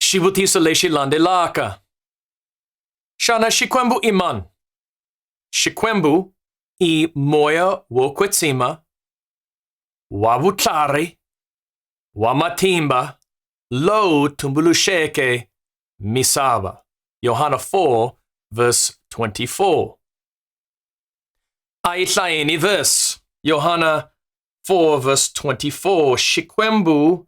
Shi vuti sa leshi lande laka. Shana shikwembu iman. Shikwembu i moya wo kwetsima wa vutlhari wa matimba lowu tumbuluxeke misava. Yohana 4 verse 24. A yi hlayeni verse Yohana 4 verse 24 Xikwembu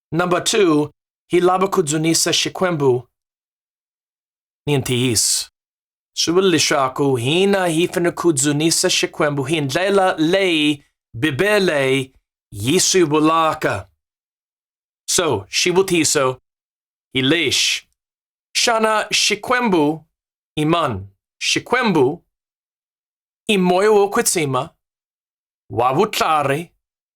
Number two, hilaba kudzunisa xikwembu ni ntiyiso. Swi vula leswaku hina hi fanele ku dzunisa xikwembu hi ndlela leyi Bibele yi swi vulaka. So, xivutiso hi lexi. Xana xikwembu i mani? Xikwembu i moya wo kwetsima, wa vutlari,